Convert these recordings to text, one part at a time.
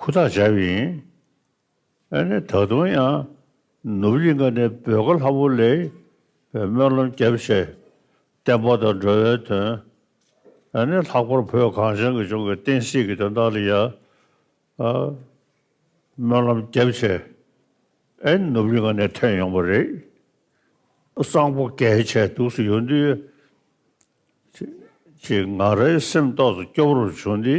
ཧུར་ཐག་བྱ་བ་ཡིན། ཨ་ནི་ད་དུང་ཡང་ནུབ་གླིང་ཁ་ནས་བོད་ཁ་ལྷ་བུ་ལས་པའི་སྨོན་ལམ་རྒྱབ་བྱས་བསྟན་པ་དང་འགྲོ་བའི་དོན། ཨ་ནི་ལྷག་པར་བོད་གངས་ཅན་གྱི་ལྗོངས་ཀྱི་བསྟན་སྲིད་ཀྱི་དོན་དག་ལ་ཡང་སྨོན་ལམ་རྒྱབ་བྱས་ཨ་ནི་ནུབ་གླིང་ཁ་ནས་ཐོན་ཡོང་པ་རེད། གསང་ཕོ་གས་བྱས་འདུག་སུ་ཡོང་དུས་ཅིག་ང་རའི་སེམས་ཏོག་ཏུ་སྐྱོ་བོར་བྱུང་སྟེ་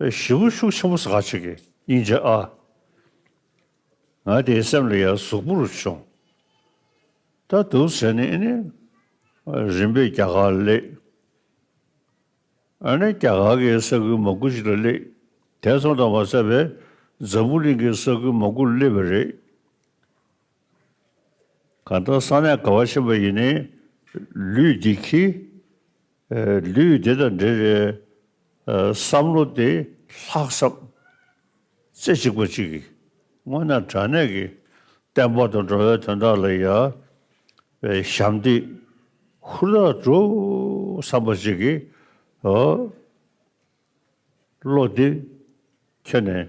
བཞི་པོ་ཤུགས་ཆེན་པོ་ཟག་བྱེད་ཀྱི་སྙིང་རྗེ་ཨ། ང་དེའི་སེམས་ལ་ཡང་གཟུགས་པོ་རུ་བྱུང། ད་འདུག་ཟེར་ནས་ཨ་ནི་རིམ་པས་རྒྱ་གར་སླེབས། ཨ་ནི་རྒྱ་གར་གྱི་ས་ཁུལ་མང་པོ་ཞིག་ལ་སླེབས། དེ་མཚམས་དང་བ་ས་བས་འཛམ་བུ་གླིང་གི་ས་ཁུལ་མང་པོར་སླེབས་པ་རེད། གང་ལྟར་ས་གནས་ག་བ་ཕྱིན་པ་ཡིན་ནའི་ལུས་འདི་ཁྱི། ལུས་འདི་དང་འབྲེལ་བའི་བསམ་བློ་དེ་ལྷག་བསམ་རྩེ་གཅིག་པ་གཅིག་གིས་མངོན་ན་དྲ་གནས་ཀྱི་བརྟན་པོ་དང་འགྲོ་བའི་དོན་དག་ལ་ཡ་བའི་ཞབས་འདེགས་ཧུར་ཐག་སྒྲུབ་བསམ་པ་གཅིག་གིས་བློ་འདི་ཁྱོན་ནས་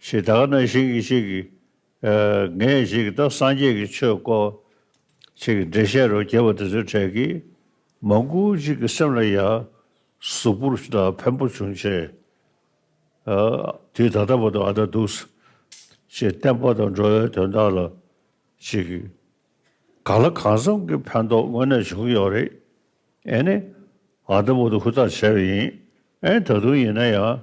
ཞེས་དག་ན་ཞིག་གིས་ཞིག་གིས། ངས་ཞིག་གིས་ད་སངས་རྒྱས་ཀྱི་ཆོས་བསྐོ། ཞེས་ཀྱི་འགྲེལ་བཤད་རོ་བརྒྱལ་བ་དེ་ཚོའི་གྲས་ཀྱིས། མང་ཀུན་གཅིག་གི་སེམས་ལ་ཡང། གཟུགས་པོར་ད་བེམ་པོ་བྱུང་ཆེ། དུས་ད་ལྟ་བ་དང་ཨ་ད་འདུག། ཞེས་བསྟན་པ་དང་འགྲོ་བའི་དོན་དག་ལ། ཞིག་གིས། གང་ལ་གང་འཚམས་ཀྱི་ཕན་ཐོགས་དངོས་གནས་བྱུང་ཡོད་རེད། ཨེ་ནི། ཨ་ད་བ་དང་ཧུར་ཐག་བྱས་པ་ཡིན། ཨེ་ད་དུང་ཡིན་ན་ཡང།